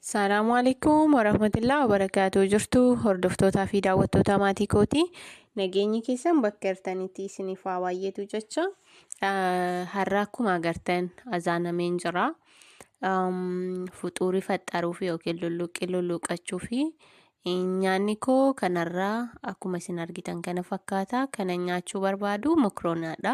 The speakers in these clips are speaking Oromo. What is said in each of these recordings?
Salaamu alaikum warahmatullahi wabarakatuh jirtu hordoftootaa fi daawwattootaa maatii kooti nageenyi keessan bakka jirtanitti isiniif haa baay'eetu jecha har'a akkuma agartan azaanameen jira fuxuurii faxxaruuf yookiin lulluqqii lulluuqachuu fi nyaanni koo kanarraa akkuma isin argitan kana fakkaata kana nyaachuu barbaadu mokronaadha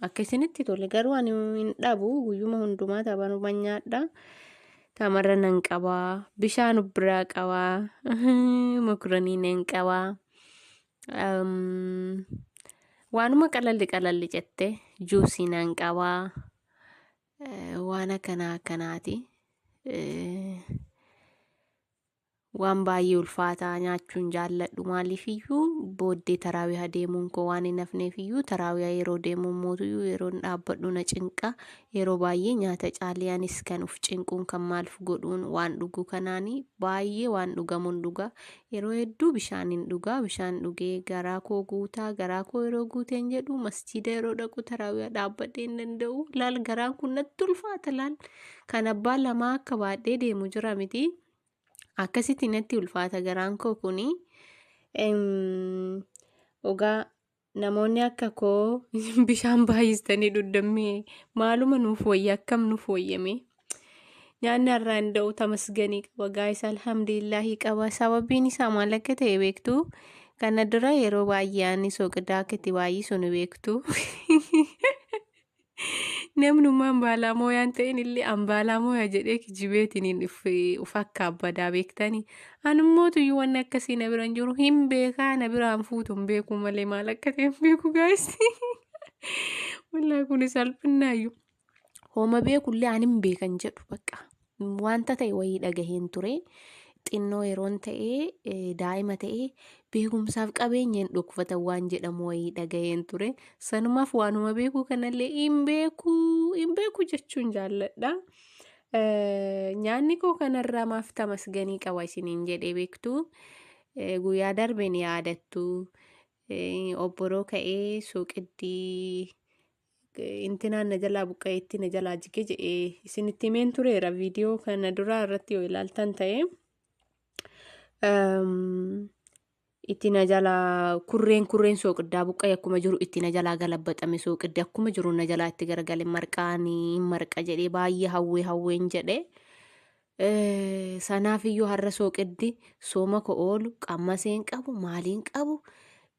Akka isinitti tole garuu ani hin dhabu guyyuma hundumaa tabanuma nyaadha. Tamarra nan qabaa bishaan of biraa qabaa makuranii nan qabaa. Um, waanuma qalalli qalalli jette juusii nan qabaa. Eh, waan akkanaa akkanaati. Eh, Waan baay'ee ulfaataa nyaachuun jaalladhu maaliifiyyuu booddee taraawiha deemuun koo waan hin hafneefiyyuu taraawiha yeroo deemuun mootuyyuu yeroon dhaabbadhu na cinqa yeroo baay'ee nyaata caalee anis kan uf cinquun kan maalf godhuun waan dhuguu kanaanii baay'ee waan dhugamuun dhugaa yeroo hedduu bishaan hin dhugaa bishaan dhugee garaa koo guutaa garaa koo yeroo guuteen jedhu masjiida yeroo dhaqu taraawiha dhaabbadhee hin danda'u laal garaan kun natti ulfaata laal kan abbaa lamaa akka baadhee deemu jira mitii. akkasitti natti ulfaata garaan koo kuni ogaa namoonni akka koo bishaan baay'istanii dhuddammee maaluma nuuf wayya akkam nuuf wayyame nyaanni har'aa hin da'u tamasganii qaba gaayis alhamdulillaahii qaba sababiin isaa maal akka ta'e beektu kana dura yeroo baay'ee ani soqidaa akka itti baay'isu ni beektu. Namnummaa ambaalaa mooyaan ta'in illee ambaalaa mooya jedhee kijibeetiniin uf akka abbadaa beektanii. Anummotu iyyuu wanni akkasii na bira hin jiru hin beekaa na biraan fuutu hin beekuu malee maal akka ta'e hin beeku gaayis. Wallaahi kun salphinnaayyuu. Hooma beekullee an hin beekan jedhu bakka. Wanta ta'e wayii dhagaheen ture. Xinnoo yeroon ta'e daa'ima ta'e beekumsaaf qabeenya hin dhokfatan waan jedhamu wayii dhagaheen ture. Sanumaaf waanuma beekuu kanallee hin beekuu hin beekuu jechuun jaalladha. Nyaanni koo kanarraa maaf tamasganii qaba isiniin jedhee beektu. Guyyaa darbe ni yaadattu. Obboroo ka'ee suuqitti intinaan na jalaa buqqa'e itti na jalaa jige jedhee isinitti himeen tureera viidiyoo kana duraa irratti yoo ilaaltan ta'e itti na jalaa kurreen kurreen sooqiddaa buqqa'e akkuma jiru itti na jalaa galabbaxame sooqiddi akkuma jiru na jalaa itti garagale marqaanii marqa jedhee baay'ee hawwee hawween jedhee. Sanaaf iyyuu har'a sooqiddi sooma koo oolu qammaseen qabu maaliin qabu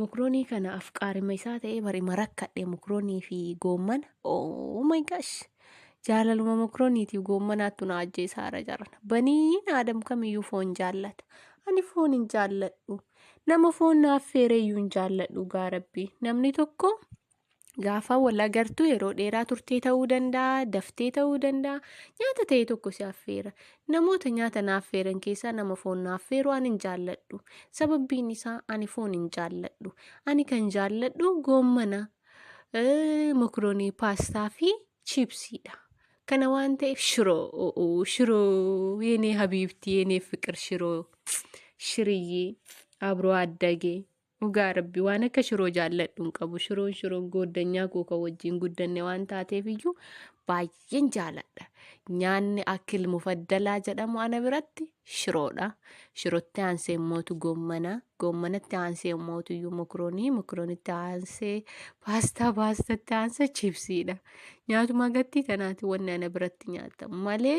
Mokronii kana afqaarima isaa ta'ee bar ima rakkadhe mokronii fi goommana. Oh my gosh! Jaalaluma mokroniitiif goommanaattu na ajjeesaara jarana. Baniin aadam kamiyyuu foon jaallata. Ani foon hin jaalladhu. Nama foon na affeereeyyuu hin jaalladhu gaa rabbi. Namni tokko Gaafa wal agartu yeroo dheeraa turtee ta'uu danda'a, daftee ta'uu danda'a. Nyaata ta'e tokko si affeera. Namoota nyaata na affeeran keessaa nama foon na affeeru ani hin jaalladhu. Sababbiin isaa ani foon hin jaalladhu. Ani kan jaalladhu goommana, eh, mokroonii, paastaa fi chiipsiidha. Kana waan ta'eef shiroo, o'oo, shiroo, yeenee habiibtii, yeenee fiqir shiroo, shiriyyee, abroo addagee, Dhugaa rabbi waan akka shiroo jaalladhu hin qabu shiroon shiroon gooddanyaa koo kan wajjin guddanne waan taateef iyyuu baay'een jaaladha nyaanni akkil mufaddalaa jedhamu ana biratti shiroodha shirootti aansee immootu goommana goommanatti aansee immootu iyyuu mokroonii mokroonitti aansee paastaa paastatti aansee chipsiidha nyaatuma gattii kanaati wanni ana biratti nyaatamu malee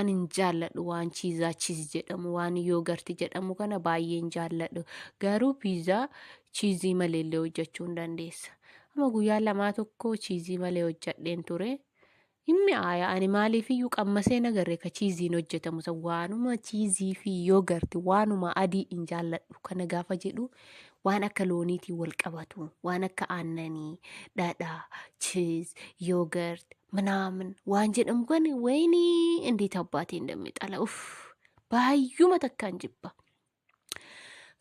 Ani hin jaalladhu waan chiizaa chiiz jedhamu waan yoogarti jedhamu kana baay'ee hin jaalladhu garuu piizaa chiizii malee illee hojjechuu hin dandeessa. Amma guyyaa lamaa tokko chiizii malee hojjedheen ture. Inni aayaa ani maaliif iyyuu qammasee nagarre ka chiiziin hojjetamu san waanuma chiizii fi yoogarti waanuma adii hin jaalladhu kana gaafa jedhu waan akka looniitiin wal qabatu waan akka aannanii dhadhaa chiiz yoogart minaamin waan jedhamu kan wayini indeet abbaatiin dammi xala uf baay'uma takkaan jibba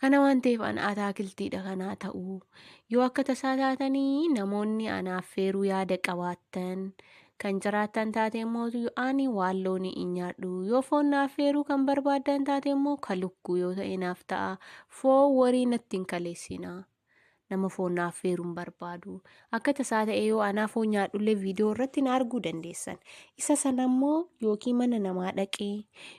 kana waan ta'eef ana ataakiltiidha kanaa ta'uu yoo akka tasaa taatanii namoonni anaaf feeruu yaada qabaattan Kan jiraattan taate immoo ani waan loonii in nyaadhu. Yoo foon na affeeruu kan barbaaddan taate immoo ka lukkuu yoo ta'e naaf ta'a. Foon warii natti hin kaleessina. Nama foon na affeeruu hin barbaadu. Akka tasaa ta'ee yoo anaa foon nyaadhullee viidiyoo irratti na arguu dandeessan. Isa sana immoo yookiin mana namaa dhaqee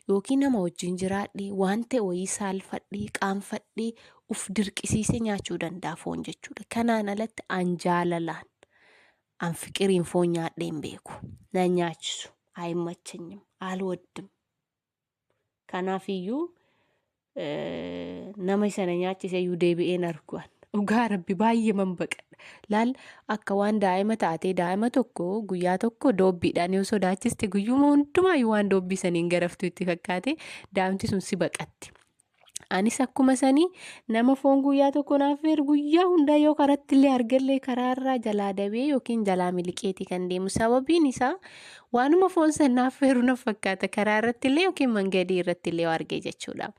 yookiin nama wajjin jiraadhe waan ta'e wayii saalfadhee qaanfadhee uf dirqisiisee nyaachuu danda'a foon jechuudha. Kanaan alatti an jaalalaan An fiqiriin foon nyaadhee hin beeku. Na hin nyaachisu. Ayimmachanyim. Alwaddim. Kanaaf iyyuu nama isa na nyaachise iyyuu deebi'een arguan. Dhugaa rabbi baay'ee man baqadha. Laal akka waan daa'ima taatee daa'ima tokko guyyaa tokko doobbiidhaan yoo sodaachiste guyyuma hundumaa waan doobbii saniin garaftu itti fakkaate daa'imti sun si baqatti. Anis akkuma sanii nama foon guyyaa tokko naaf feeru guyyaa hundaa yoo karatti illee argallee karaarraa jalaa dabee yookiin jalaa miliqeetii kan deemu sababiin isaa waanuma foon san naaf feeru na fakkaata karaa irratti illee yookiin mangadii irratti illee yoo arge jechuudha.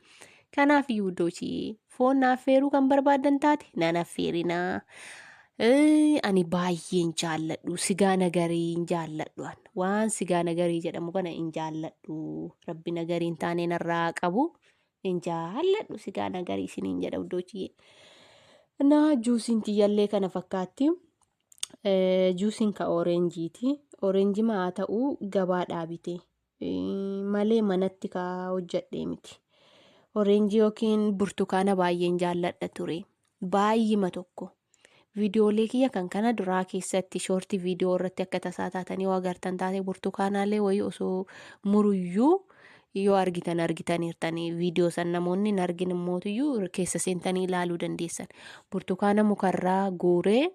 Kanaaf yuudochii foon naaf feeruu kan barbaadan taate nan affeerinaa. Ee, ani baay'een jaalladhu sigaa nagarii hin jaalladhu an waan sigaa nagarii jedhamu kana hin jaalladhu rabbi nagarii hin taane narraa haa qabu hin jaalladhu sigaa nagarii isiniin jedha uddoochiyyee na juusiin tiyyallee kana fakkaatti Eh, juusiin ka ooreenjiiti ooreenji maa ta'u gabaa dhaabite malee manatti ka hojjadhee miti. Oreenjii yookiin burtukaana baay'een jaalladha ture. Baay'ima tokko. Viidiyoolee kiyya kan kana duraa keessatti shoortii viidiyoo irratti akka tasaa taatanii yoo agartan taate burtukaanaalee wayii osoo muruyyuu yoo argitan argitaniirtanii viidiyoo san namoonni hin argin immootiyyuu keessa seentanii ilaaluu dandeessan. Burtukaana mukarraa guuree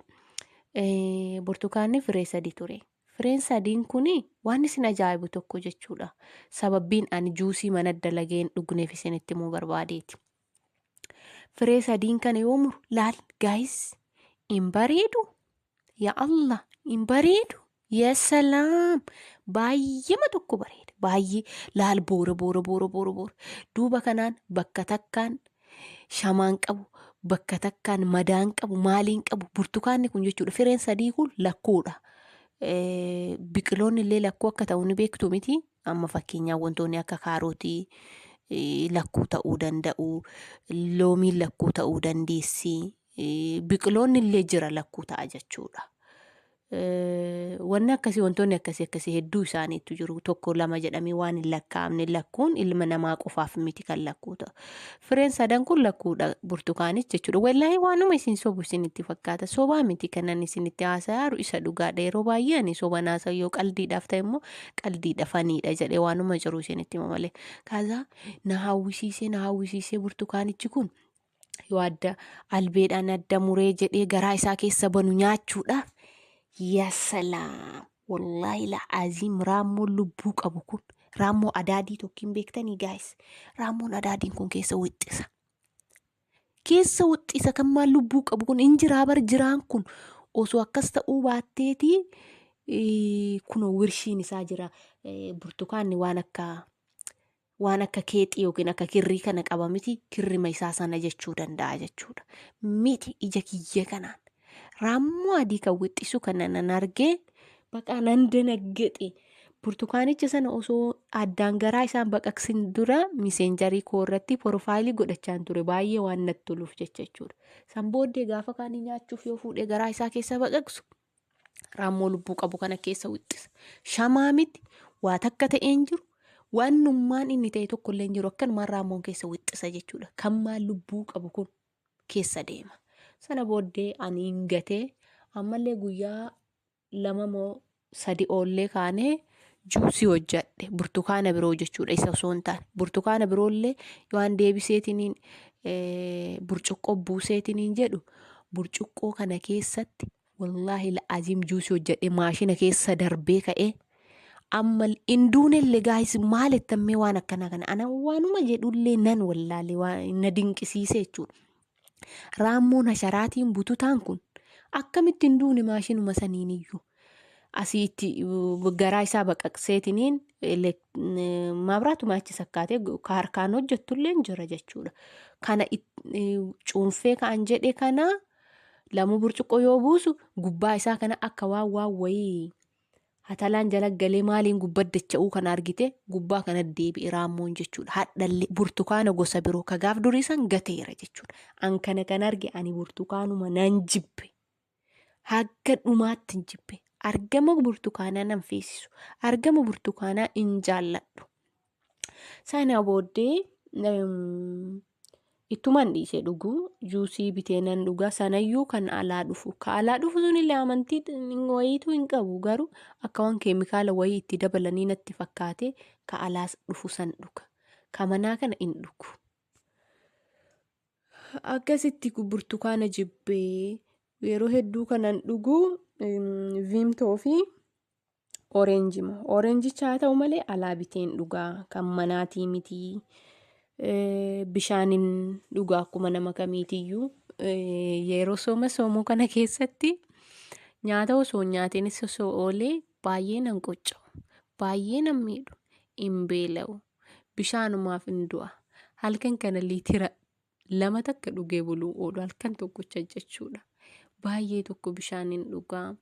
burtukaanni firee sadi ture. Fireen sadiin kun waan isin ajaa'ibu tokko jechuudha. Sababbiin ani juusii mana dalagee hin dhugneef isinitti himuu barbaadeeti. Firee sadiin kana yoo muru laal gaayis hin bareedu. Yaa Allah hin bareedu. Yaa salaam baay'eema tokko bareeda baay'ee laal boora boora boora boora boora duuba kanaan bakka takkaan shamaan qabu bakka takkaan madaan qabu maaliin qabu burtukaanni kun jechuudha fireen sadii kun lakkuudha. Eh, Biqiloonni illee lakkuu akka ta'u ni beektu miti amma fakkeenyaaf wantoonni akka kaarootii eh, lakkuu ta'uu danda'u loomiin lakkuu ta'uu dandeessi eh, biqiloonni illee jira lakkuu ta'a jechuudha. Wanni akkasii wantoonni akkasii akkasii hedduu isaaniitu jiru. Tokko lama jedhamee waan hin lakkaa'amne lakkuun ilma namaa qofaaf miti kan lakkuu ta'u. Fireen sadan kun lakkuudha burtukaanis jechuudha. Wallaahi waanuma isin sobu isinitti fakkaata. Sobaa miti kanan isinitti haasa'aaru isa dhugaadha. Yeroo baay'ee ani soban haasa'u yoo qaldiidhaaf ta'e immoo qaldiidha faniidha jedhee waanuma jiru isinitti hima malee. Kaasaa na hawwisiisee na hawwisiisee burtukaanichi kun yoo adda albeedhaan adda muree jedhee garaa isaa keessa banu nyaachuudhaaf yaa salaam wallaahi la'aaziim raammoon lubbuu qabu kun raammoo adaadii tokkiin beektanii gaayis raammoon adaadiin kun keessa wixxisa keessa wixxisa kan maal lubbuu qabu kun hin jiraa bar jiraan kun osoo akkas ta'uu baatteeti kunoo wirshiin isaa jira burtukaanni waan akka waan akka keexii yookiin akka kirrii kana qaba miti kirrima isaa sana jechuu danda'a jechuudha. Miti ija kiyya kanaan raammoo adii kan wixxisu kana nan argee baqaa nan danaggexe. Burtukaanicha sana osoo addaan garaa isaan baqaqsin dura miseenjarii koo irratti porofaayilii godhachaan ture baay'ee waan natti toluuf jecha jechuudha. San booddee gaafa kaanii nyaachuuf yoo fuudhee garaa isaa keessa baqaqsu Raammoo lubbuu qabu kana keessa wixxisa. Shamaa miti, waa takka ta'ee hin jiru, waannummaan inni ta'e tokko illee hin jiru akkanumaan raammoon keessa wixxisa jechuudha. Kan maal lubbuu qabu kun keessa deema. Sana booddee ani hin gatee ammallee guyyaa lama moo sadi oollee kaanee juusii hojjadhe burtukaana biroo jechuudha isa osoo hin taane burtukaana biroollee waan deebiseetiniin burcuqqoo buuseetiniin jedhu burcuqqoo kana keessatti Wallaahi la'aziim juusii hojjadhee maashina keessa darbee ka'ee amma hin duunellee gaayis maal ettammee waan akkanaa kana ana waanuma jedhullee nan wallaalee waa na dinqisiisee jechuudha. Raammoon hasharaatiin bututaan kun akkamitti hin duune maashinuma saniin iyyuu asii itti uh, garaa isaa baqaqseetiniin elek- eh, maabiraatuma achi sakkaatee gu- ka harkaan hojjettullee hin jira jechuudha. Kana it- eh, cuunfee ka'an jedhe kana Lamuu burcuqqoo yoo buusu gubbaa isaa kana akka waan waan wayii hatalaan jala galee maaliin gubba dacha'uu kana argite gubbaa kana deebi'e raammoon jechuudha. Hadhallee burtukaana gosa biroo ka gaaf durii san gateera jechuudha. An kana kan arge ani burtukaanuma nan jibbe. Hagga dhumaatti hin jibbe. Argama burtukaanaa nan feesisu. Argama burtukaanaa hin jaalladhu. Sana booddee ittuman dhiise dhuguu juusii bitee nan dhugaa sanayyuu kan alaa dhufu ka alaa dhufu sunillee amantii wayiitu hin qabu garuu akka waan keemikaala wayii itti dabalanii natti fakkaate ka alaa dhufu san dhuga ka manaa kana hin dhugu. Akkasitti burtukaana jibbee yeroo hedduu kanan dhugu viimtoo fi Oreenji moo? Oreenjicha haa ta'u malee alaa biteen dhugaa kan manaatii mitii. Eh, Bishaanin dhugaa akkuma nama kamiitiyyuu eh, yeroo sooma soomuu kana keessatti nyaata osoo hin nyaatiinis osoo oolee baay'ee nan qocca'u. Baay'ee nan miidhu. Hin beela'u. Bishaanumaaf hin du'a. Halkan kana liitira lama takka dhugee buluu oolu halkan tokkocha jechuudha. Baay'ee tokko bishaan hin dhugaa.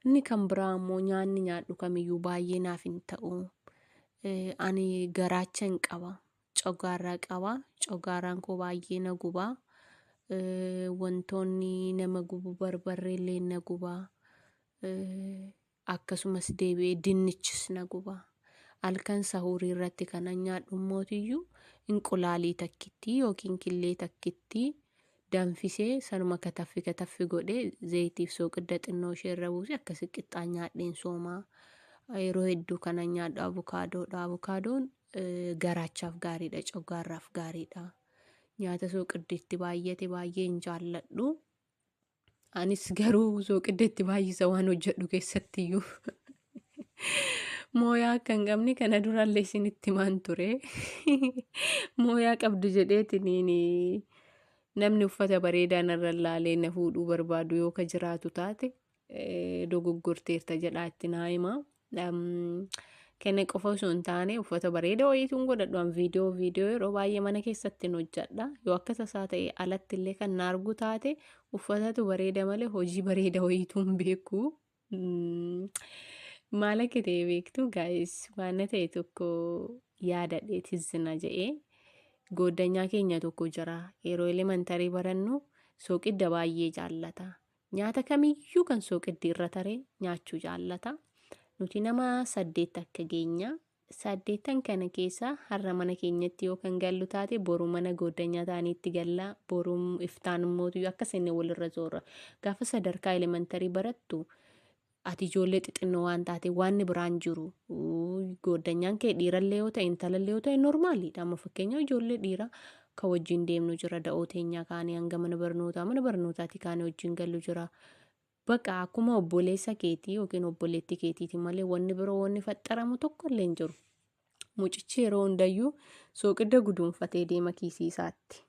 Inni kan biraa immoo nyaanni nyaadhu kamiyyuu baay'ee naaf hin ta'u. Eh, Ani garaacha hin qaba. Cogaarraa qaba. Cogaarraan koo baay'ee na guba. Eh, Wantoonni nama gubu barbarree illee na guba. Eh, akkasumas deebi'ee dinnichis na guba. Halkan sahuurii irratti kanan nyaadhu immootiyyuu inqulaalii takkittii yookiin killee takkittii danfisee sanuma kataffi kataffi godhee zayitiif sooqidda xinnoo ishee irra buusee akkasi qixxaan nyaadheen sooma. Yeroo hedduu kanan nyaadhu abukaadoodha. Abukaadoon garaachaaf gaariidha, coggaarraaf gaariidha. Nyaata sooqiddi itti baay'ate baay'ee hin jaalladhu. Anis garuu sooqidda itti baay'isa waan hojjedhu keessattiyyuu. Mooyaa akka hin qabne kana durallee isinitti himaan ture. Mooyaa qabdu jedheetiin namni uffata bareedaa narra laalee na fuudhuu barbaadu yoo ka jiraatu taate eh, dogoggorteerta jedhaa itti naa himaa. Kenne qofa osoo hin taane uffata bareeda wayiituun godhadhu an viidiyoo viidiyoo yeroo baay'ee mana keessatti hin hojjedha yoo akka tasaa ta'e alatti illee kan na argu taate uffatatu bareeda malee hojii bareeda wayiituun beeku. Maal akka ta'e beektu gaa'is waan na ta'e tokko yaadadhe tizzina jedhee gooddanyaa keenya tokko jira yeroo elementarii barannu sooqidda baay'ee jaallata Nyaata kamiyyuu kan sooqiddi irra tare nyaachuu jaallata. Nuti nama saddeet akka geenya. Saddeettan kana keessa har'a mana keenyatti yoo kan gallu taate boru mana gooddanyaa taaniitti galla. Boru iftaan immootu akka seenne walirra zoorra. Gaafa sadarkaa elementarii barattu Ati ijoollee xixinnoo waan taate waanni biraan jiru gooddanyaan kee dhiirallee yoo ta'e intalallee yoo ta'e normaaliidha. Amma fakkeenyaaf ijoollee dhiiraa kan wajjin deemnu jira da'oo teenyaa kaanee hanga mana barnootaa mana barnootaati kaanee wajjin gallu jira. Baqa akkuma obboleessa keetii yookiin obboleetti keetiiti malee wanni biroo wanni faxxaramu tokko illee hin jiru. Mucichi yeroo hundayyuu sooqidda guduunfatee deema kiisii isaatti.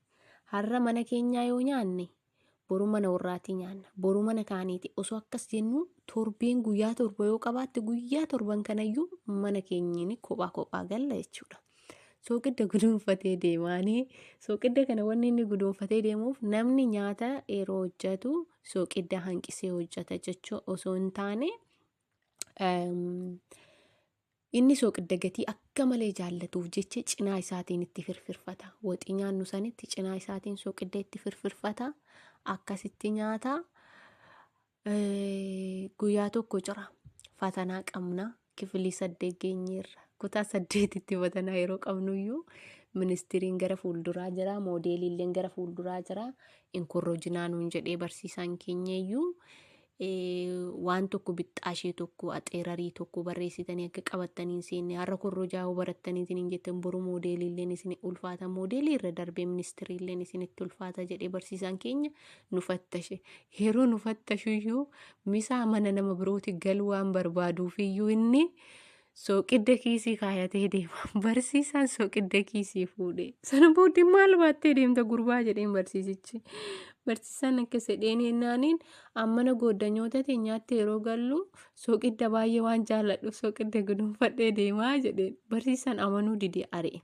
Har'a mana keenyaa yoo nyaanne boru mana warraatii nyaanna. Boru mana kaaniiti. Osoo akkas jennu torbeen guyyaa torba yoo qabaatte guyyaa torban kanayyuu mana keenyiin kophaa kophaa galla jechuudha. Sooqidda guduunfatee deemaanii sooqidda kana wanni inni guduunfatee deemuuf namni nyaata yeroo hojjetu sooqidda hanqisee hojjeta jechuu osoo hin taane Inni sooqidda gatii akka malee jaallatuuf jecha cinaa isaatiin itti firfirfata. Woxii nyaannu sanitti cinaa isaatiin sooqidda itti firfirfata. Akkasitti nyaata. Guyyaa tokko jira. Fatanaa qabna. Kifilii saddeet geenyeerra. Kutaa saddeetitti fatanaa yeroo qabnuyyuu ministiriin gara fuulduraa jira. Moodeeliilleen gara fuulduraa jira. Inkorrojinaa nuun jedhee barsiisaan keenyayyuu waan tokko bixxaashee tokko axeerarii tokko barreessitanii akka qabattanii hin seenne har'a korrojaa yoo barattanii isin hin jettan boru moodeeliilleen isin ulfaata moodeelii irra darbee ministiriilleen isinitti ulfaata jedhee barsiisaan keenya nu fattashe yeroo nu fattashu iyyuu misaa mana nama birooti galuu waan barbaaduuf iyyuu inni Sooqidda kiisii kaayatee deema. Barsiisaan sooqidda kiisii fuudhee. Sana booddee maal baattee deemta gurbaa jedheen barsiisichi. Barsiisaan akka sedheen yennaaniin ammana gooddanyoota teenyaatti yeroo gallu sooqidda baay'ee waan jaalladhu sooqidda gudunfadhee deemaa jedheen. Barsiisaan amanuu didee ari'e.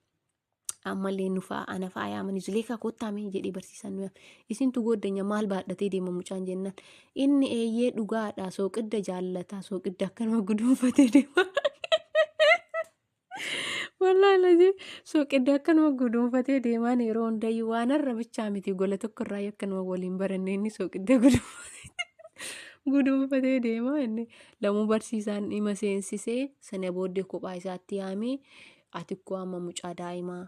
ammallee nu fa'a ana fa'a yaamanii zuleekaa koottaamee jedhee barsiisaan nu yaame isintu gooddenya maal baadhatee deema mucaan jennaan inni eeyyee dhugaadha sooqidda jaallata sooqidda akka nama guduunfatee deema. Wallaahi lajee sooqidda akka nama guduunfatee deemaan yeroo hundayyuu waan har'a bichaa miti gola tokko irraa akka nama waliin baranne inni sooqidda guduunfatee deema inni lamuu barsiisaan dhima seensisee sana booddee kophaa isaatti yaamee. Ati kko amma mucaa daa'imaa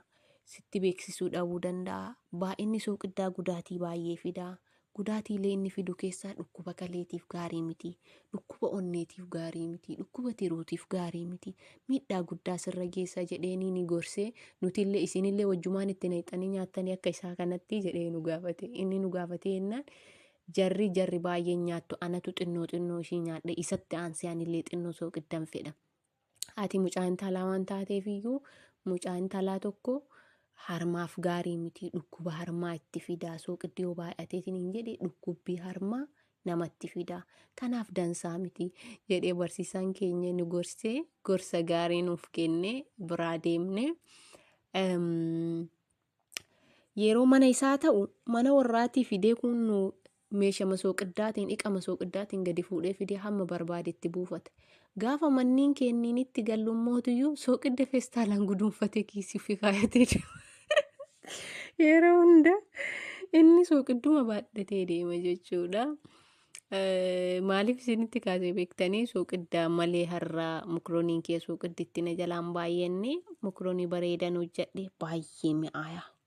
sitti beeksisuu dhabuu danda'a. Baay'inni sooqiddaa gudaatii baay'ee fida. Gudaatiilee inni fidu keessaa dhukkuba kaleetiif gaarii miti. Dhukkuba onneetiif gaarii miti. Dhukkuba tiruutiif gaarii miti. Miidhaa guddaa sirra geessa jedheeniini gorse. Nutillee isinillee wajjumaan itti naqxanii nyaattanii akka isaa kanatti jedhee nu gaafate. Inni nu gaafatee jennaan jarri jarri baay'een nyaattu anatu xinnoo xinnoo ishii nyaadhe isatti aansee anillee xinnoo sooqiddan fedha. Ati mucaa intalaa waan taateef iyyuu mucaa intalaa tokko harmaaf gaarii miti dhukkuba harmaa itti fidaa sooqiddi yoo baay'ateetiin hin jedhe dhukkubbii harmaa namatti fidaa kanaaf dansaa miti jedhee barsiisaan keenya nu gorsee gorsa gaarii nuuf kennee biraa deemne. Yeroo mana isaa ta'u mana warraatii fidee kun nu Meesha masooqiddaatiin dhiqa masooqiddaatiin gadi fuudhee fidee hamma barbaade itti buufata. Gaafa manniin kenniinitti gallu mootuyyuu sooqidda feestaalaan guduunfatee kiisii fi kaayatee deema. Yeroo hunda inni sooqidduma baadhatee deema jechuudha. Maaliif isinitti kaasee beektanii sooqiddaa malee har'aa mukrooniin kee sooqidditti na jalaan baay'enne mukroonii bareedan hojjadhe baay'ee mi'aayaa.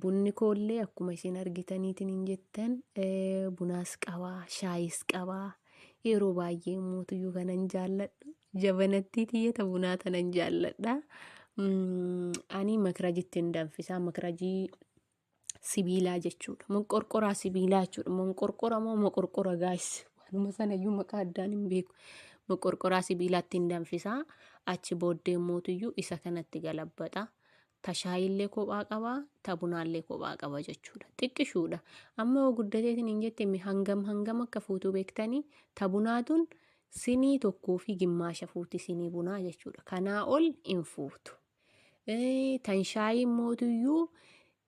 Bunni koollee akkuma isin argitaniitiin hin jettan bunaas qaba shaayis qaba yeroo baay'ee mootuyyuu kanan jaalladhu jabanattii tiyyata bunaa tanan jaalladha. Ani makirajitti hin danfisaa makirajii sibiilaa jechuudha moqorqoraa sibiilaa jechuudha moqorqora moo moqorqora gaayis waanuma sanayyuu maqaa addaan hin beeku moqorqoraa sibiilaatti hin danfisaa achi booddee mootuyyuu isa kanatti galabbata. Ta shaayiillee kophaa qaba, ta bunaallee kophaa qaba jechuudha. Xiqqishuudha. Amma yoo guddatee siniin jette mi hangam hangam akka fuutuu beektanii ta bunaa tun sinii tokkoo fi gimmaasha fuuti sinii bunaa jechuudha. Kanaa ol hin fuutu. Eh, Tan shaayii mootuyyuu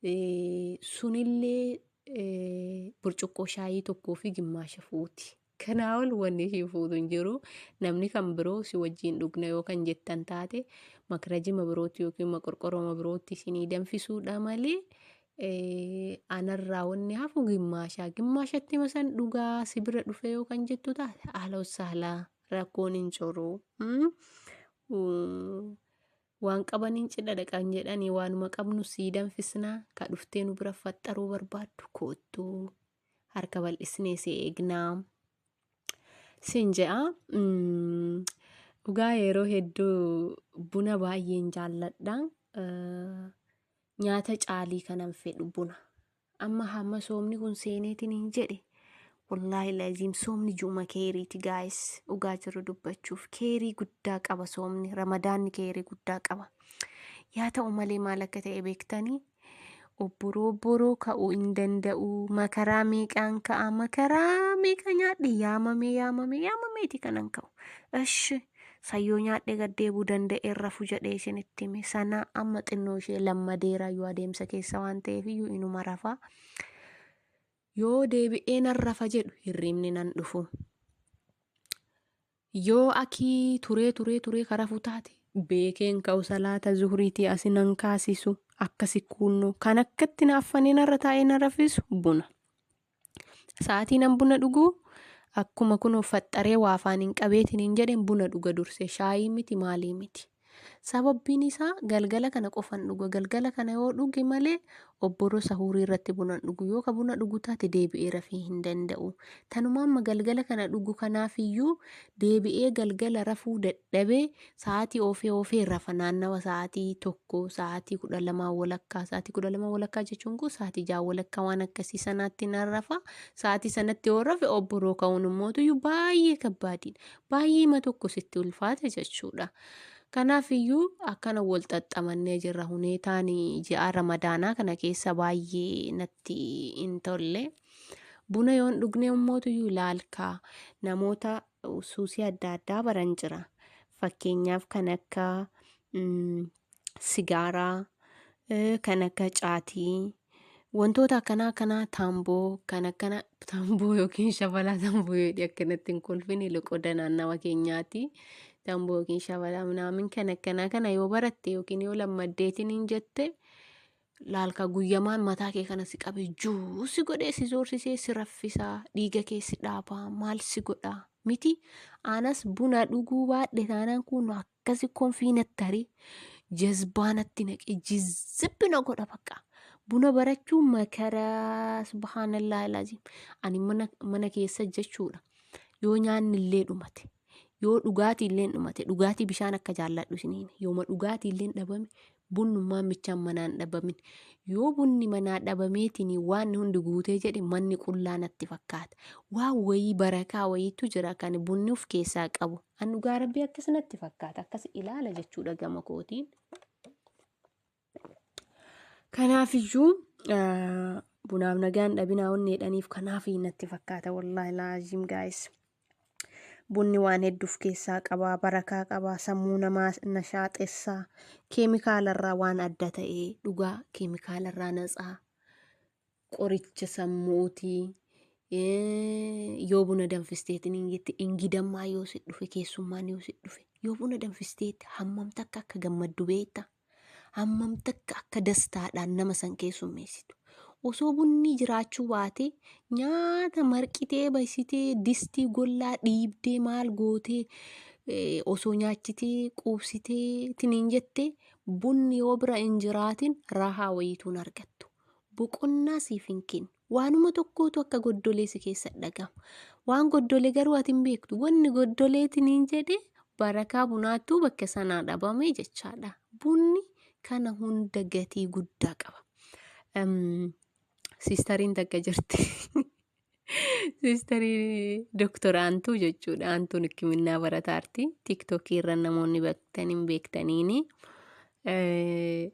eh, sunillee eh, burcuqqoo shaayii tokkoo fi gimmaasha fuuti. Kanaa ol wanni sii fuutu hin jiru. Namni kan biroo si wajjiin dhugna yoo kan jettan taate makrajima birootti yookiin maqorqorooma birootti isinii danfisuudha malee eh, anarraa wanni hafu gimmaashaa. Gimmaashatti masan dhugaa si bira dhufe yoo kan jettu taate haala saala rakkoon hin jiru. Mm? Mm. Waan qabaniin cidha dhaqan jedhanii waanuma qabnu sii danfisnaa ka dhuftee nu bira faxxaruu barbaaddu koottu. harka bal'isnee si eegnaa sin je'a. Mm, Dhugaa yeroo hedduu buna baay'een jaalladha. Eh, Nyaata caalii kanan fedhu buna. Amma hamma soomni kun seeneetiin hin jedhe. Wallaahi laziim soomni juuma keeriiti gaayis dhugaa jiru dubbachuuf keerii guddaa qaba soomni ramadaanni keerii guddaa qaba. Yaa ta'u malee maal akka ta'e beektanii Obboroo obboroo ka'uu hin danda'u. Makaraa meeqaan ka'a? Makaraa meeqa nyaadhe? Yaamamee yaamamee yaamameeti kanan ka'u. Ishi sayyoo nyaadhe gad deebuu danda'een rafu jedhee isinitti hime. Sana amma xinnoo ishee lammadeera yoo adeemsa keessa waan ta'eef iyyuu inuma rafa. Yoo deebi'ee nan rafa jedhu hirriibni nan dhufu. Yoo akii turee turee turee ka rafu taate. Beekeen ka'u salaata zuhriitii asi nan kaasisu akkasi kuunnoo kan akkatti na affanee narra taa'ee na rafisu buna. Sa'aatii nan buna dhugu akkuma kunoo faxxaree waa afaaniin qabeetiniin jedheen buna dhuga dursee shaayii miti maalii miti. Sababbiin isaa galgala kana qofan dhuga. Galgala kana yoo dhuge malee obboro sahuurii irratti buna hin dhugu. Yoo ka buna dhugu taate deebi'ee rafee hin danda'u. Tanuma amma galgala kana dhugu kanaafiyyuu deebi'ee galgala rafuu dadhabee sa'aatii oofee oofee rafa naannawa sa'aatii tokko sa'aatii kudha lamaa walakkaa sa'aatii kudha lamaa walakkaa jechuun kun sa'aatii ja'a walakkaa waan akkasii sanaatti nan rafa sa'aatii sanatti yoo rafe obboroo ka'uun immootu baay'ee kabbaadiidha baay'eema tokko sitti ulfaate jechuudha. Kanaaf iyyuu akkana wal xaxxamannee jirra huneetaan ji'a ramadaanaa kana keessa baay'ee natti hin tolle. Buna yoon dhugnee ummootu iyyuu ilaalkaa namoota suusii adda addaa baran jira. Fakkeenyaaf kan akka sigaaraa eh, kan akka caatii wantoota akkanaa akkanaa taamboo kan akkana taamboo yookiin shabalaa taamboo jedhi akkanatti hin kolfine loqoda naannawa keenyaati taamboo yookiin shabalaa minaamin kan akkanaa kana yoo baratte yookiin yoo lammaddeetiin hin jette laalka guyyamaan mataa kee kana si qabe juu si godhee si zoorsisee si raffisaa dhiiga kee si dhaabaa maal si godhaa miti anas buna dhuguu baadhe taanaan kun akkasi konfii natti tarii jazbaa natti naqee jizzibbi na godha bakka buna barachuu makaraa subhaanallaa ilaaziim ani mana, mana keessa jechuudha yoo nyaanni illee dhumate yoo dhugaatii illee dhumate dhugaatii bishaan akka jaalladhu isiniin yooma dhugaatii illee dhabame Bunnummaan michaan manaa hin dhabamin. Yoo bunni manaa dhabameetiin waan hundi guutee jedhe manni qullaa natti fakkaata. Waan wayii barakaa wayiitu jira kan bunni of keessaa qabu. An dhugaa rabbii akkas natti fakkaata akkas ilaala jechuudha gama kootiin. Kanaafiyyuu bunaaf nagaan dhabinaa onneedhaniif kanaaf natti fakkaata wallaahi laaziim gaayis. Bunni waan hedduu of keessaa qaba, barakaa qaba, sammuu namaa nashaaxessa, keemikaalarraa waan adda ta'e dhugaa keemikaalarraa natsaa, qoricha sammuuti. Yoo buna danfisteetiin hin jette ingidammaa yoo si dhufe keessummaan yoo si dhufe yoo buna danfisteetti hammam takka akka gammaddu beekta hammam takka akka dastaadhaan nama san keessummeessitu. Osoo bunni jiraachuu baatee nyaata marqitee basitee distii gollaa dhiibdee maal gootee eh, osoo nyaachitee quubsitee tiniin jettee bunni yoo bira hin jiraatin rahaa wayiituun argattu. Boqonnaa siif hin kennu. Waanuma tokkootu akka goddolee si keessa dhagama. Waan goddole garuu ati hin beektu. Wanni goddoleetiin hin jedhe barakaa bunaattuu bakka sanaa dhabame jechaadha. Bunni kana hunda gatii guddaa qaba. Em, Siistariin takka jirti. Siistarii Dooktor Aantuu jechuudha. Aantuun hikiminnaa barataarti. Tiiktookii irra namoonni beektan hin beektaniini. Eh,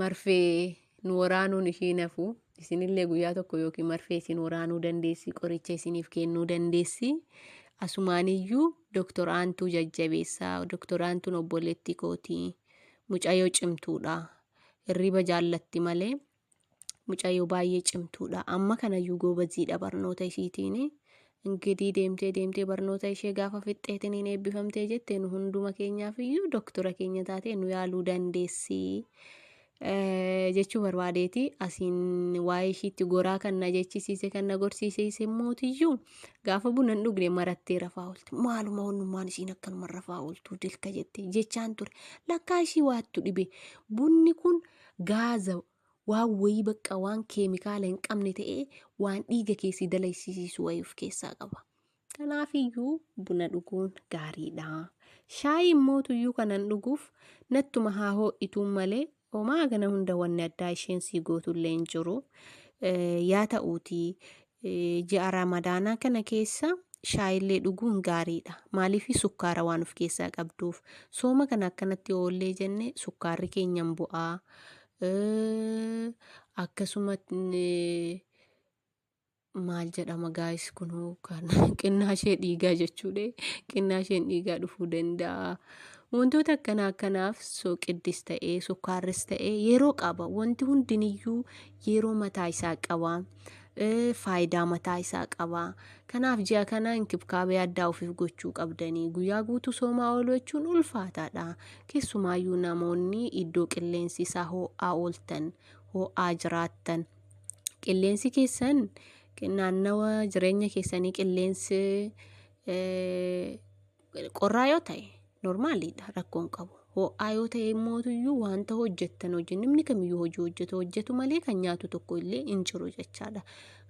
Marfee nu waraanuun ishii hin hafu. Isinillee guyyaa tokko yookiin marfee isin waraanuu dandeessi, qoricha isiniif kennuu dandeessi. Asumaaniyyuu Dooktor Aantuu jajjabeessaa. Dooktor Aantuun obboleettii kooti. Mucayyoo cimtuudha. Hirriba jaallatti malee mucayyoo baay'ee cimtuudha. Amma kanayyuu goobaziidha barnoota ishiitiin. Ingidiy deemtee deemtee barnoota ishee gaafa fixxeetiniin eebbifamtee jette nu hunduma keenyaaf iyyuu doktora keenya taatee nu yaaluu dandeessi jechuu barbaadeeti. Asiin waa'ee ishiitti goraa kan na jechisiise kan na gorsiise mootiyyuu gaafa buna hin dhugne marattee rafaa oolte. Maaluma onnummaan ishiin akkanuma rafaa ooltu dilka jette jechaan ture. Lakkaa ishii waattu dhibe. Bunni kun gaaza waan wayii bakka waan keemikaala hin qabne ta'ee waan dhiiga kee si dalaysisiisu wayii of keessaa qaba. Kanaafiyyuu buna dhuguun gaariidha. Shaayii immootuyyuu kanan dhuguuf nattuma haa hoo'ituun malee homaa kana hunda wanni addaa isheen sii gootullee hin jiru. Yaa ta'uutii Ji'a Ramadaanaa kana keessa shaayillee dhuguun gaariidha. Maaliif sukkaara waan of keessaa qabduuf. Sooma kana akkanatti oollee jenne sukkaarri keenya hin bu'aa. Akkasuma maal jedhama gaayis kunoo kan qinnaashee dhiigaa jechuudha. Qinnaasheen dhiigaa dhufuu danda'a. Wantoota akkanaa akkanaaf soqiddis ta'ee sukkaarris ta'ee yeroo qaba. Wanti hundiniyyuu yeroo mataa isaa qaba. faayidaa mataa isaa qaba. Kanaaf ji'a kana inkibkaabee addaa ofiif gochuu qabdanii guyyaa guutuu soomaa ooluu jechuun ulfaataadha. Keessumaayyuu namoonni iddoo qilleensi isaa hoo'aa ooltan hoo'aa jiraattan qilleensi keessan naannawa jireenya keessanii qilleensi Qorraa yoo ta'e normaaliidha rakkoon qabu. Ho'aa yoo ta'e immoo iyyuu wanta hojjettan hojii namni kamiyyuu hojii hojjetu hojjetu malee kan nyaatu tokko illee hin jiru jechaadha.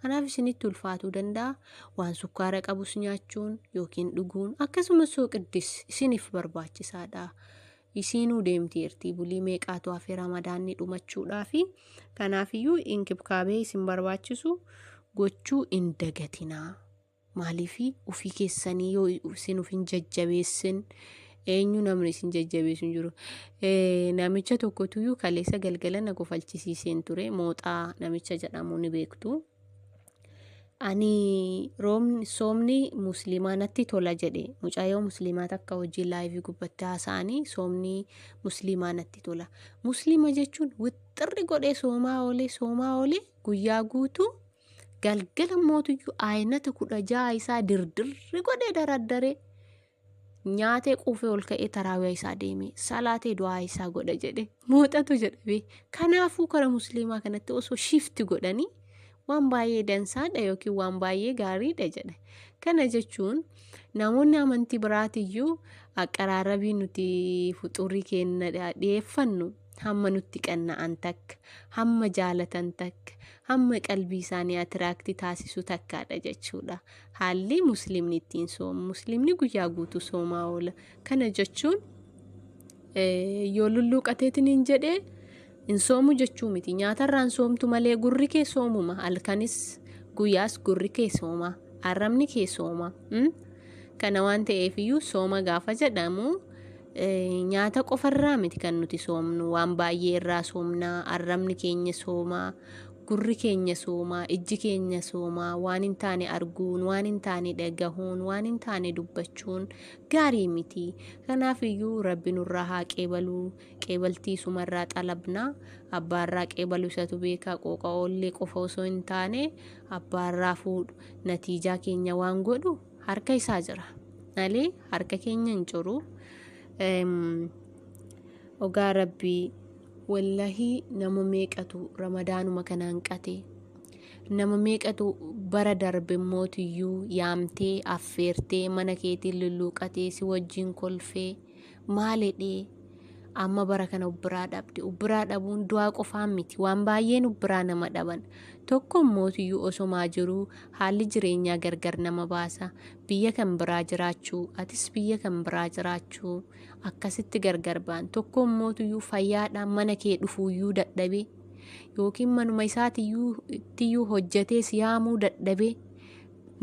Kanaaf isinitti ulfaatuu danda'a. Waan sukkaara qabus nyaachuun yookiin dhuguun akkasumas sooqiddis isiniif barbaachisaadha. Isiinuu deemteerti bulii meeqaatu hafe ramadaanni dhumachuudhaa fi kanaafiyyuu inkibkaabee isin barbaachisu gochuu hin dagatinaa. Maaliifi ufii keessanii yoo isin uf hin jajjabeessin eenyu namni isin jajjabeessu hin jiru. Eh, Namicha tokkotuyyuu kaleessa galgala na kofalchisiiseen ture mooxaa namicha jedhamu ni beektu. Ani roobni soomni musliimaa natti tola jedhe mucaayoo musliimaa takka hojii laayivii gubbatti haasa'anii soomni musliimaa natti tola. Musliima jechuun wixxirri godhee soomaa oolee soomaa oolee guyyaa guutuu Galgala mootiyyuu ayinata kudha ja'a isaa dirdirri godhee daraddaree nyaatee quufee ol ka'ee taraawiyaa isaa deemee salaatee du'aa isaa godha jedhe muuxatu jedhame kanaafuu kara musliimaa kanatti osoo shifti godhanii waan baay'ee dansaadha yookiin waan baay'ee gaariidha jedhe kana jechuun namoonni amantii biraatiyyuu aqaraarabii nuti fuxuurii keenya dhiyeeffannu hamma nutti qanna'an takka hamma jaalatan takka hamma qalbii isaanii atiraakti taasisu takkaadha jechuudha haalli muslimni ittiin soomu muslimni guyyaa guutuu soomaa oola kana jechuun yoo lulluuqateetiin hin jedhee hin soomu jechuu miti nyaatarraan soomtu malee gurri kee soomuma halkanis guyyaas gurri kee sooma arrabni kee sooma Kana waan ta'eef iyyuu sooma gaafa jedhamu nyaata qofarraa miti kan nuti soomnu waan baay'ee irraa soomnaa arrabni keenya soomaa gurri keenya soomaa ijji keenya soomaa waan hin taane arguun waan hin taane dhagahuun waan hin taane dubbachuun gaarii miti kanaaf iyyuu rabbi nurraa haa qeebaluu qeebaltii sumarraa xalabnaa abbaarraa qeebalu isatu beekaa qooqa oollee qofa osoo hin taane abbaarraa fuudhu natiijaa keenya waan godhu harka isaa jira malee harka keenya hin jiru ogaa rabbii wallahii nama meeqatu ramadaanuma kana hanqate nama meeqatu bara darbe immoo tiyyuu yaamtee affeertee mana keetiin lulluuqatee si wajjin kolfee maal jedhee amma bara kana ubbiraa dhabde ubbiraa dhabuun du'aa qofaan miti waan baay'een ubbiraa nama dhaban tokko mootiyyuu osomaa jiruu haalli jireenyaa gargar nama baasa biyya kan biraa jiraachuu atis biyya kan biraa jiraachuu akkasitti gargar baan tokko mootiyyuu fayyaadhaan mana kee dhufuuyyuu dadhabee yookiin manuma isaatiyyuu hojjetee siyaamuu dadhabee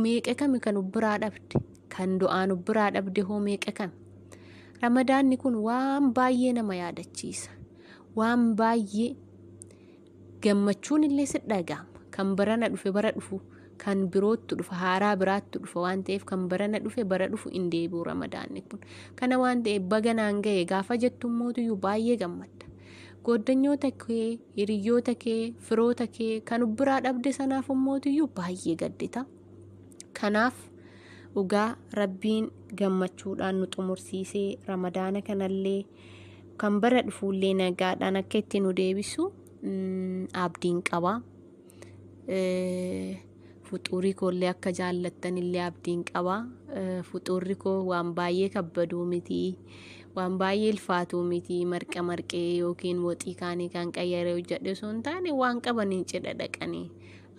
Meeqa kami kan ubbiraa dhabde? Kan du'aan ubbiraa dhabde hoo meeqa kami? Ramadaanni kun waan baay'ee nama yaadachiisa. Waan baay'ee gammachuun illee si dhaga'ama. Kan barana dhufe bara dhufu kan biroottu dhufa haaraa biraattu dhufa waan ta'eef kan barana dhufe bara dhufu hin deebi'u ramadaanni kun. Kana waan ta'eef baga naan ga'e gaafa jettu mootiyyuu baay'ee gammadda. Gooddanyoota kee, hiriyyoota kee, firoota kee kan of biraa dhabde sanaaf immootiyyuu baay'ee gaddita. Kanaaf dhugaa rabbiin gammachuudhaan nu xumursiisee ramadaana kanallee kan bara dhufuullee nagaadhaan akka itti nu deebisu mm, abdiin qaba. fuxuurii koollee akka jaallattan illee abdiin qaba fuxuurri koo waan baay'ee kabbaduu miti waan baay'ee ilfaatuu miti marqa marqee yookiin woxii kaanii kan qayyaree hojjedhe osoo hin taane waan qabaniin cidha dhaqanii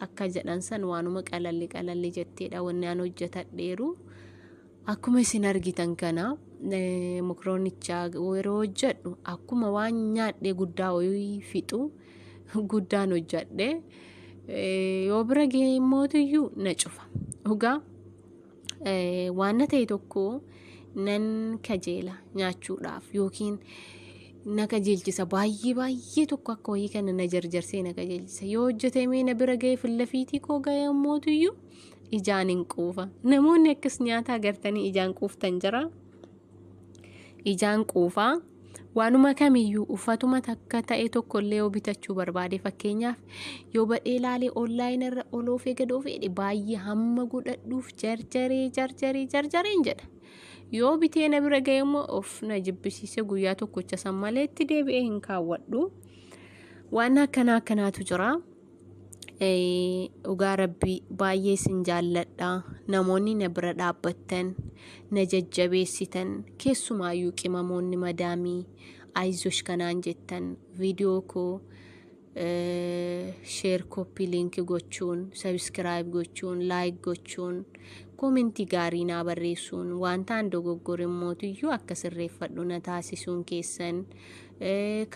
akka jedhan san waanuma qalalli qalalli jetteedha wanni aan hojjetadheeru Akkuma isin argitan kana mokroonicha yeroo hojjedhu akkuma waan nyaadhee guddaa hoyii fixu guddaan hojjedhe yoo bira ga'e mootiyyuu na cufa dhugaa waan na ta'e tokko nan kajeela nyaachuudhaaf yookiin na kajeelchisa baay'ee baay'ee tokko akka hoyii kana na jarjarsee na kajeelchisa yoo hojjetamee na bira ga'e fillafiitii koo ga'e mootiyyuu ijaan hin quufa namoonni akkas nyaataa gartanii ijaan quuftan jira ijaan quufa waanuma kamiyyuu uffatuma takka ta'e tokko illee yoo bitachuu barbaade fakkeenyaaf yoo badhee laalee onlaayina irra oloof eegadoo fedhe baay'ee hamma godhadhuuf jarjaree jarjaree jarjareen jedha yoo bitee na bira ga'e immoo of na jibbisiise guyyaa tokkocha san malee itti deebi'ee hin kaawwadhu waan akkanaa akkanaatu jira. dhugaa rabbii baay'ee isin jaalladha namoonni na bira dhaabbattan na jajjabeessitan keessumaayyuu qimamoonni madaamii ayzosh kanaan jettan viidiyoo koo sheer koppii liinkii gochuun sabiskiraayib gochuun laayik gochuun koomentii gaarii naa barreessuun wantaan dogoggore mootiyyuu akka sirreeffadhu na taasisuun keessan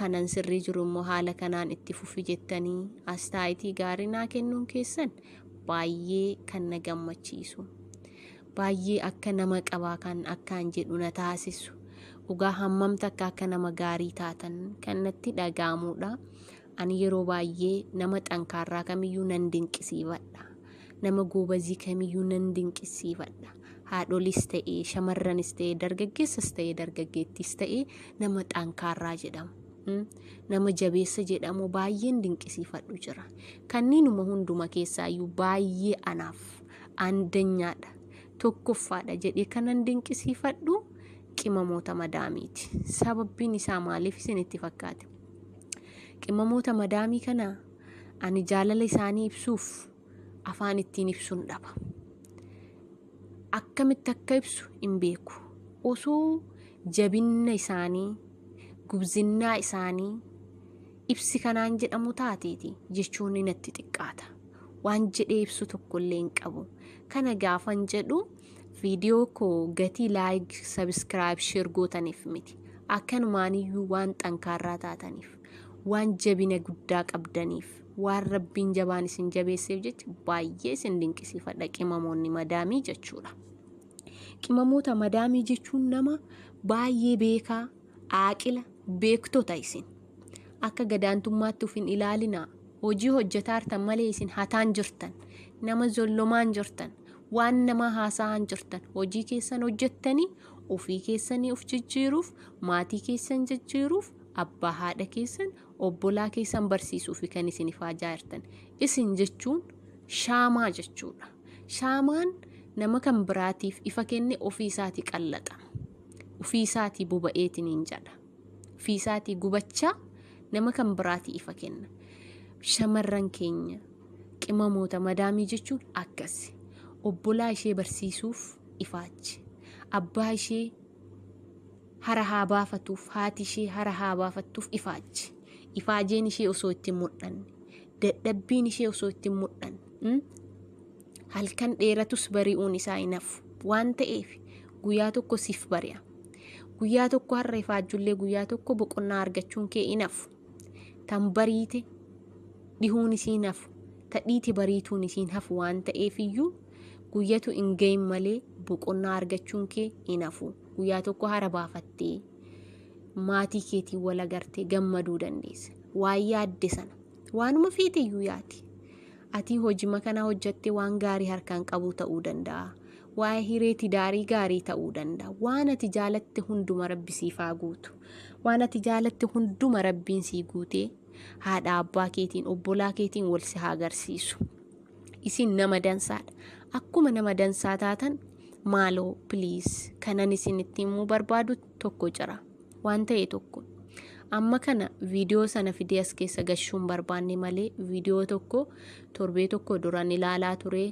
kanan sirrii jiru immoo haala kanaan itti fufi jettanii astaayitii gaarii naa kennuun keessan baay'ee kan na gammachiisu baay'ee akka nama qabaa kan akkaan jedhu na taasisu dhugaa hammamta akka akka nama gaarii taatan kan natti dhaga'amuudha. Ani yeroo baay'ee nama xankaarraa kamiyyuu nan dinqisiifadha. Nama goobazii kamiyyuu nan dinqisiifadha. Haadholis ta'ee, shamarranis ta'ee, dargaggeessas ta'ee, dargaggeettis ta'ee nama xankaarraa jedhamu. Mm. Nama jabeessa jedhamu baay'een dinqisiifadhu jira. Kanniinuma hunduma keessaayyuu baay'ee anaaf andanyaadha. Tokkoffaadha jedhee kanan dinqisiifadhu qimamoota madaamiiti. Sababbiin isaa maaliif isinitti fakkaate? Qimamoota madaamii kana ani jaalala isaanii ibsuuf afaan ittiin ibsuun dhaba. Akkamitti akka ibsu hin beeku. Osoo jabinna isaanii, gubzinnaa isaanii ibsi kanaan jedhamu taateeti jechuun natti xiqqaata. Waan jedhee ibsu tokkollee hin qabu. Kana gaafan jedhu Viidiyoo koo gatii laayik, sabiskiraayib, sheer gootaniif miti. Akkanumaaniyyuu waan xankaarraa taataniif, waan jabina guddaa qabdaniif, waan rabbiin jabaan isin jabeesseef jecha baay'ee isin dinqisiifadha qimamoonni madaamii jechuudha. Qimamoota madaamii jechuun nama baay'ee beekaa, aaqila, beektota isin. Akka gadaantummaatti uf hin ilaalinaa. Hojii hojjetaartan malee isin hataan jirtan. Nama zollomaan jirtan. Waan namaa haasa'aan jirtan. Hojii keessan hojjettanii ofii keessanii uf jijjiiruuf, maatii keessan jijjiiruuf, abbaa haadha keessan, obbolaa keessan barsiisuufi kan isin ifaajaa jirtan. Isin jechuun shaamaa jechuudha. Shaamaan nama kan biraatiif ifa kenne ofii isaatii qallaxama. ufii isaatii boba'eetiniin jedha ufii isaatii gubachaa nama kan biraatii ifa kenna shamarran keenya qimamoota madaamii jechuun akkasi obbolaa ishee barsiisuuf ifaachi abbaa ishee hara haa baafatuuf haati ishee hara haa baafattuuf ifaachi ifaajeen ishee osoo itti hin mul'anne dadhabbiin ishee osoo itti hin mul'anne mm? Halkan dheeratus bari'uun isaa hin hafu. Waan ta'eef guyyaa tokko siif bari'a. Guyyaa tokko har'a ifaajjullee guyyaa tokko boqonnaa argachuun kee hin hafu. Tan bariite dhihuun isii hin hafu. Ta dhiite bariituun isii hin hafu waan ta'eef iyyuu guyyatu hin gahin malee boqonnaa argachuun kee hin hafu. Guyyaa tokko hara baafattee maatii keetiin wal agartee gammaduu dandeessa. Waan yaadde sana waanuma feete iyyuu yaadi. Atii hojima kana hojjatte waan gaarii harkaan qabuu ta'uu danda'a. Waa'ee hiree tidaarii gaarii ta'uu danda'a. Waan ati jaalatte hunduma rabbi siif haa guutu. Waan ati jaalatte hunduma rabbiin sii guutee haadha abbaa keetiin obbolaa keetiin wal si haa garsiisu. Isin nama dansaadha. Akkuma nama dansaa taatan maaloo please kanan isin itti himuu barbaadutti tokko jira. Waan ta'e tokko. Amma kana viidiyoo sana fidee as keessa gashuun barbaanne malee viidiyoo tokko torbee tokko duran ilaalaa ture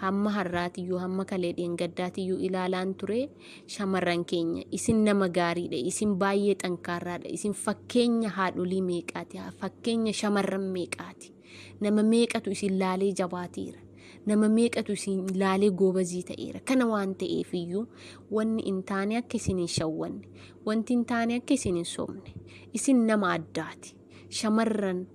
hamma har'aatiyyuu hamma kalee dheengaddaatiyyuu ilaalaan ture shamarran keenya isin nama gaariidha isin baay'ee xankaarraadha isin fakkeenya haadholii meeqaati fakkeenya shamarran meeqaati. Nama meeqatu isin laalee jabaateera. Nama meeqatu isin laalee goobazii ta'eera. Kana waan ta'eef iyyuu wanni hin taane akka isin hin shawwanne, wanti hin taane akka isin hin sobne. Isin nama addaati. Shamarran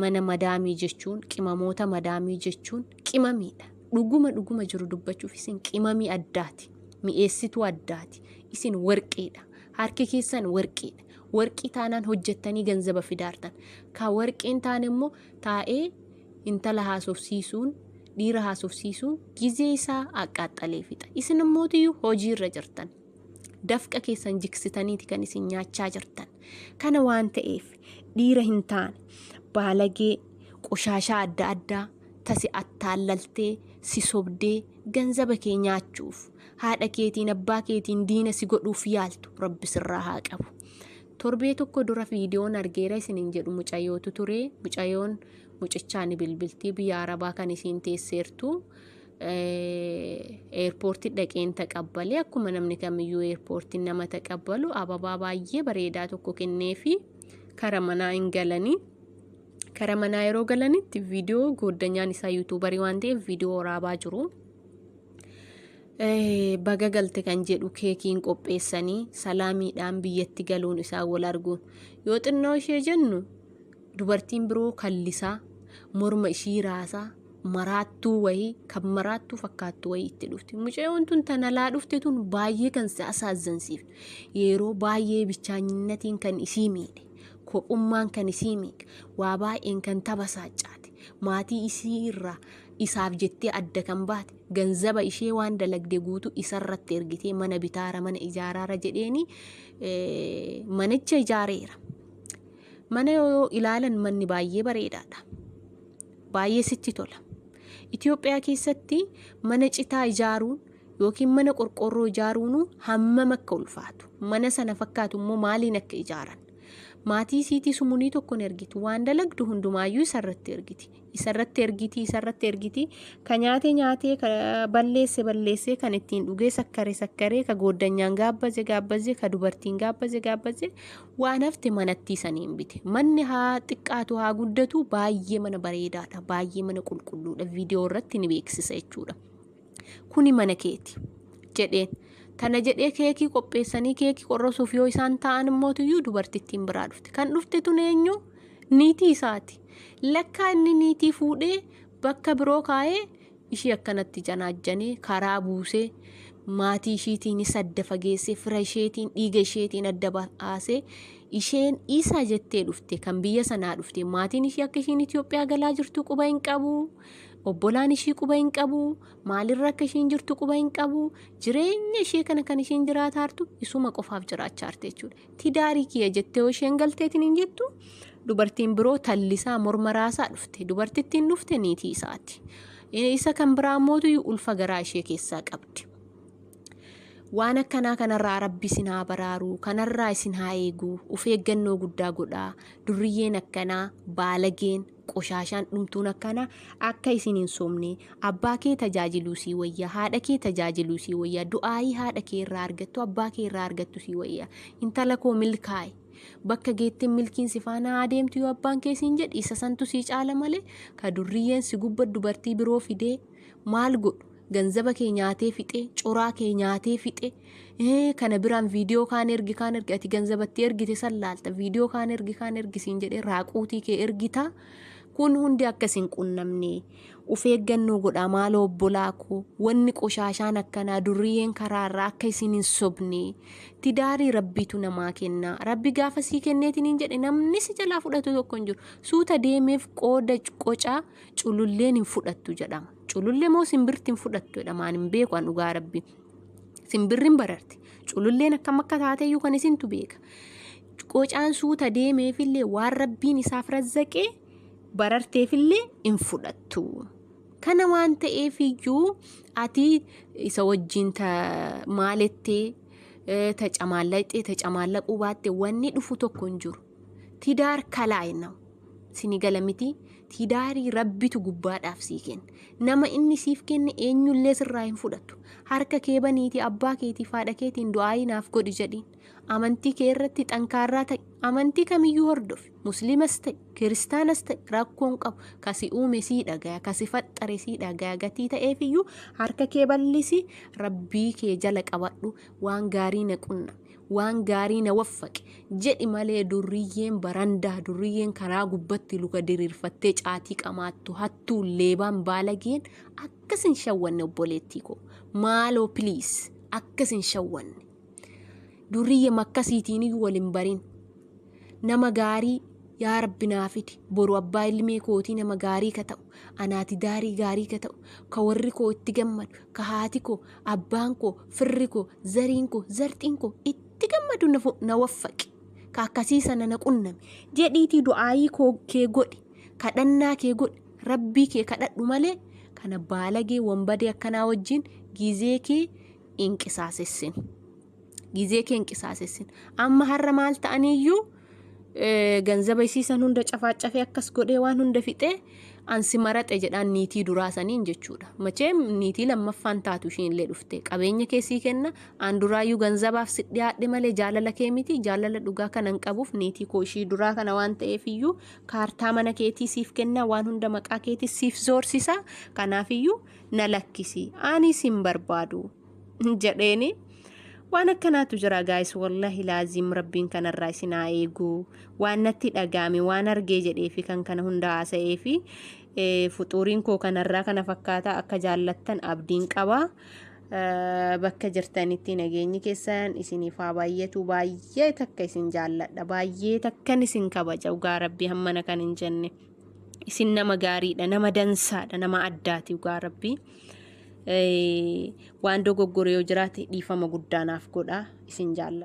mana madaamii jechuun, qimamoota madaamii jechuun qimamiidha. Dhuguma dhuguma jiru dubbachuuf isin qimamii addaati. Mi'eessituu addaati. Isin warqiidha. Harki keessan warqiidha. Warqii taanaan hojjettanii ganzaba fidaartan. Ka warqii hin taane immoo taa'ee intala haasofsiisuun dhiira haasofsiisuun gizee isaa aqqaaxxalee fixa. Isin immootiyyuu hojii irra jirtan. Dafqa keessan jiksitaniiti kan isin nyaachaa jirtan. Kana waan ta'eef dhiira hin taane baalagee qoshaashaa adda addaa tasi attaallaltee si sobdee ganzaba kee nyaachuuf haadha keetiin abbaa keetiin diina si godhuuf yaaltu rabbi sirraa haa qabu. Torbee tokko dura viidiyoon argeera isiniin jedhu mucayyootu ture. Mucayyoon mucichaa ni bilbilti biyya arabaa kan isiin teesseertu. Eerpoortii dhaqeen taqabbalee akkuma namni kamiyyuu eerpoortiin nama taqabbalu ababaa baay'ee bareedaa tokko kenneefi kara manaa hin galanii. Kara manaa yeroo galanitti viidiyoo gooddanyaan isaa yuutuubarii waan ta'eef viidiyoo waraabaa jiru. baga galte kan jedhu keekiin qopheessanii salaamiidhaan biyyatti galuun isaa wal arguun yoo xinnoo ishee jennu dubartiin biroo kallisaa morma ishii raasaa maraattuu wayii kan maraattuu fakkaattuu wayii itti dhufte mucayyoon tun tanalaa dhufte tun baay'ee kan si asaazansiif yeroo baay'ee bichaanyinnatiin kan isii miidhe kophummaan kan isii miidhe waa baay'een kan tabasaacaate maatii isii irraa isaaf jettee adda kan baate ganzaba ishee waan dalagde guutu isarratti ergitee mana bitaara mana ijaaraara jedheeni manicha ijaareera. Mana yoo ilaalan manni baay'ee bareedaadha. Baay'ee sitti tola. Itoophiyaa keessatti mana citaa ijaaruun yookiin mana qorqoorroo ijaaruun hammam akka ulfaatu mana sana fakkaatu immoo maaliin akka ijaaran maatii siitii sumunii tokkoon ergiti waan dalagdu hundumaayyuu isarratti ergiti isarratti ergiti isarratti ergiti ka nyaatee nyaatee ka balleesse balleessee kan ittiin dhugee sakkare sakkaree ka gooddanyaan gaabbaze gaabbaze ka dubartiin gaabbaze gaabbaze waan hafte manattii saniin bite manni haa xiqqaatu haa guddatu baay'ee mana bareedaadha baay'ee mana qulqulluudha viidiyoo irratti ni beeksisa jechuudha. Kuni mana keeti. jedheen. Tana jedhee keekii qopheessanii keekii qorrosuuf yoo isaan taa'an immootiyyuu dubartittiin biraa dhufte. Kan dhufte tun eenyu? Niitii isaati. Lakkaa inni niitii fuudhee bakka biroo kaa'ee ishii akkanatti janaajjanee karaa buusee maatii ishiitiinis adda fageessee fira isheetiin dhiiga isheetiin adda baasee isheen isa jettee dhufte kan biyya sanaa dhufte maatiin ishii akka ishiin Itoophiyaa galaa jirtu quba hin qabu. obbolaan ishii quba hin qabu maalirra akka ishiin jirtu quba hin qabu jireenya ishee kana kan ishiin jiraataartu isuma qofaaf jiraachaarte jechuudha tidaarii kiyya jettee yoo isheen galteetiin hin jettu dubartiin biroo tallisaa morma raasaa dhufte dubartittiin dhufte niitii isaati isa kan biraa mootu ulfa garaa ishee keessaa qabdi. waan akkanaa kanarraa rabbi isin haa baraaru kanarraa isin haa eegu of eeggannoo guddaa godhaa durriyyeen akkanaa baalageen Qoshaashaan dhumtuun akkanaa akka isin hin sobne, abbaa kee tajaajiluu sii wayya, haadha kee tajaajiluu sii wayya, du'aayii haadha kee irraa argattu, abbaa kee irraa argattu sii wayya. Intala koo milkaa'i. Bakka geettin milkiin si faana haa deemtu yoo abbaan kee siin jedhe isa santu sii caala malee ka durriyyeen si gubba dubartii biroo fidee maal godhu? ganzaba kee nyaatee fixe coraa kee nyaatee fixe ee, kana biraan viidiyoo kaan ergi kaan ergi ati ganzabatti ergite san laalta viidiyoo kaan ergi kaan ergi siin jedhee raaquutii kee ergita kun hundi akka isin qunnamne of eeggannoo godhaa maaloo obbolaa koo wanni qoshaashaan akkanaa durriyyeen karaa irraa akka isin hin sobne tidaarii rabbiitu namaa kenna rabbi gaafa sii kenneetiin hin jedhe namni si jalaa fudhatu tokko hin jiru suuta deemeef qooda qocaa cululleen hin fudhattu jedhama. Culullee moo simbirti hin fudhattu jedhama ani hin beeku an dhugaa rabbi. Simbirri hin bararti. Cululleen akkam akka taateyyuu kan isintu beeka. Qocaan suuta deemeefillee waan rabbiin isaaf razzaqee bararteefillee hin fudhattu. Kana waan ta'eef iyyuu ati isa wajjin ta maalettee eh, ta camaallattee ta camaallaquu baatte wanni dhufu tokko hin jiru. Tidaar kalaay naw. Sini gala miti tidaarii rabbitu gubbaadhaaf sii kenne. Nama inni siif kenne eenyullee sirraa hin fudhatu. Harka kee baniiti abbaa keetii faadha keetiin du'aayii naaf godhi jedhiin. Amantii kee irratti xankaarraa ta'i. Amantii kamiyyuu hordofi. Musliimas ta'i, kiristaanas ta'i rakkoon qabu. Kasi uume sii dhagaya, kasi faxxare sii dhagaya gatii ta'eefiyyuu harka kee bal'isi rabbii kee jala qabadhu waan gaarii na qunna. waan gaarii na waffaqi jedhi malee durriyyeen barandaa durriyyeen karaa gubbatti luka diriirfattee caatii qamaattu hattuu leebaan baalageen akkas hin shawwanne obboleettii koo maaloo piliis akkas hin shawwanne durriyye makkasiitiin iyyuu wal hin barin nama gaarii yaa rabbi naa fidi boru abbaa ilmee kootii nama gaarii ka ta'u anaati daarii gaarii ka ta'u ka warri koo itti gammadu ka haati koo abbaan koo firri koo zariin koo zarxiin koo itti gammadu na fu- na waffaqi ka akkasii sana na qunname jedhiitii du'aayii koo kee godhi kadhannaa kee godhi rabbii kee kadhadhu malee kana baalagee wanbadee akkanaa wajjin gizee kee hin qisaasessin gizee kee hin qisaasessin amma har'a maal ta'aniyyuu ganzaba isii san hunda cafaaccafee akkas godhee waan hunda fixee ansi maraxe jedhaan niitii duraa saniin jechuudha. Machee niitii lammaffaan taatu ishiinillee dhufte qabeenya keessii kenna aan duraayyuu ganzabaaf si dhiyaadhe malee jaalala kee miti jaalala dhugaa kana hin qabuuf niitii koo ishii duraa kana waan ta'eef iyyuu kaartaa mana keetii siif kenna waan hunda maqaa keetii siif zoorsisa kanaaf iyyuu na lakkisi anis hin barbaadu. jedheeni waan akkanaatu jira gaayis wallahi laaziim rabbiin kanarraa isin haa eegu waan natti dhagaame waan argee jedhee fi kan kana hunda haasa'ee fi fuxuuriin koo kanarraa kana fakkaata akka jaallattan abdiin qaba bakka jirtanitti nageenyi keessan isiniif haa baay'atu baay'ee takka isin jaalladha baay'ee takkan isin kabaja dhugaa rabbii hammana kan hin jenne. isin nama gaariidha nama dansaadha nama addaati dhugaa rabbii Eh, waan dogoggore yoo jiraate dhiifama guddaa naaf godha isin jaalla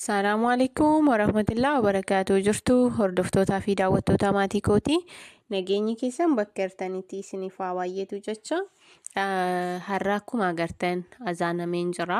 Salaamu alaikum warahmatullahi wabarakatuh jirtu hordoftootaa fi daawwattootaa maatii kooti nageenyi keessan bakka jirtanitti isiniif haa baay'eetu jecha Ah, har'a akkuma agartan azaanameen jira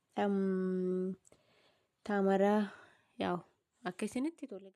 Taamaraa yaa'u akka isinitti tole.